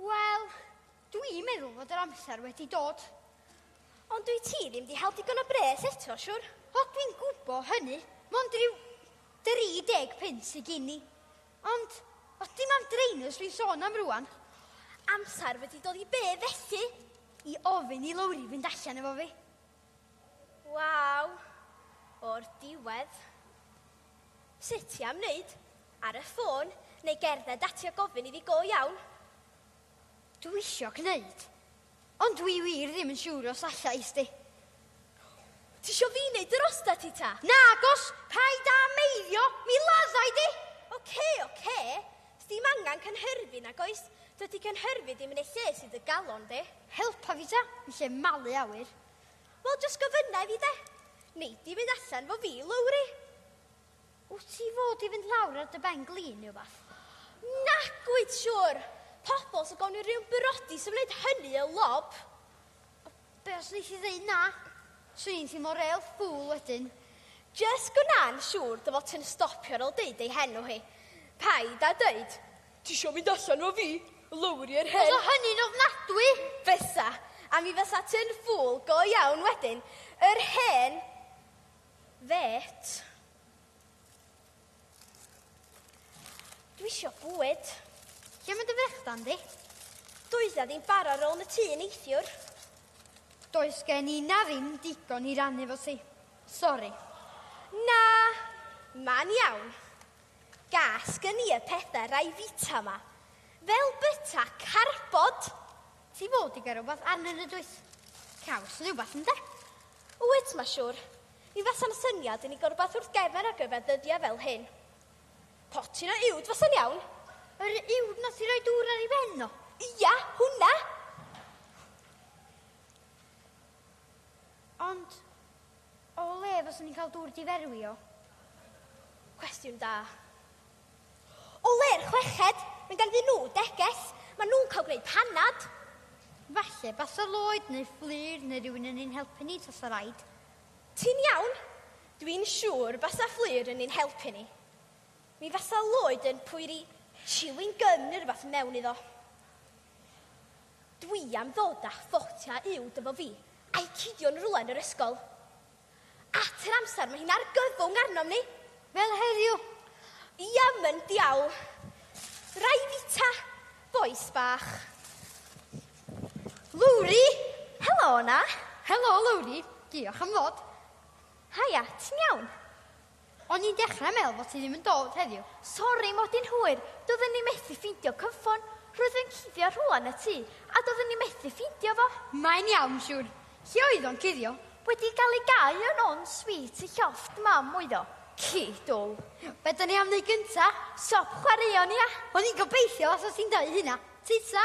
Wel, dwi'n meddwl fod yr amser wedi dod. Ond dwi ti ddim di hel digon o bres eto, siwr? O, dwi'n gwbo hynny. Mond rhyw 30 punt sy gini. Ond, o, dim am draenus rwy'n sôn am rwan. Amser wedi dod i be felly? I ofyn i Lowri fynd allan efo fi. Waw, o'r diwedd. Sut ti am wneud? Ar y ffôn neu gerdded ati a gofyn iddi go iawn? Dw i isio gwneud, ond dw i wir ddim yn siŵr os allai, Sti. Ti isio fi wneud yr osta ti ta? Nagos! Paid â meiddio, mi laddai di! Oce, oce. Sdim angen cynhyrfu nag oes? Dydy cynhyrfu ddim yn ei lle sydd dy galon di. Helpa fi ta, yn lle malu awyr. Wel, jyst gofynna i fi de. Nei di fynd allan fo fi, Lowri? Wyt ti fod i fynd lawr ar dy ben glin neu wbath? Nac wyt siwr! Pobl sy'n gawn i rhywun byrodi sy'n wneud hynny y lob. Be os wneith i ddeud na? Swn i'n teimlo real ffwl wedyn. Jyst gwna'n siŵr dy fod ti'n stopio ar ôl deud ei henw hi. Paid â dweud. Tisio mynd allan 'fo fi? Lowri yr hen... Fysa hynny'n ofnadwy! Fysa. A mi fysa ti'n ffŵl go iawn wedyn. Yr hen fêt. Dwi isio bwyd. Lle mae dy frechdan di? Does 'na ddim bar ar ôl y tŷ neithiwr. Does gen i na ddim digon i rannu efo ti. Sori. Na, ma'n iawn. Gas gen i y pethe rai fita ma. Fel byta carbod! Ti fod i gael rhywbeth arnyn nhw dwyt? Caws neu rhywbeth ynde? Wyt, mae siwr. Mi fasa'n syniad i ni gael rhywbeth wrth gefn ar gyfer dyddiau fel hyn. Potyn o uwd fasa'n iawn. Yr uwd na sy'n rhoi dŵr ar ei ben o? Ia, hwnna! Ond, o le fyswn ni'n cael dŵr diferwio? Cwestiwn da. O le'r chweched, mae ganddyn nhw deges, mae nhw'n cael gwneud panad. Falle basa Lloyd neu Fflur neu rhywun yn ein helpu ni tasa raid. Ti'n iawn? Dwi'n siŵr basa Fflur yn ein helpu ni. Mi fasa Lloyd yn pwyri chewing gum neu rhywbeth mewn iddo. Dwi am ddod â'ch ffotia uwd efo fi, a'u cidio yn rwla yn yr ysgol. At yr amser mae hi'n argyfwng arnom ni! Fel heddiw! Iawn, diawl! Rai fita, bois bach. Lowri! Helo 'na! Helo, Lowri! Diolch am ddod. Haia, ti'n iawn? O'n i'n dechrau meddwl fod ti ddim yn dod heddiw. Sori, mod i'n hwyr. Doeddwn i methu ffeindio cyfffon. Roedd yn cuddio rhwla yn y tŷ, a doeddwn i methu ffeindio fo. Mae'n iawn, siŵr. Hi oedd o'n cuddio. Wedi cael ei gau yn on sweet y llofft mam oedd o. Ci dwl. Be da ni am wneud gynta? Siop chwaraeon, ia? O'n i'n gobeithio os o ti'n dau hynna. Tita!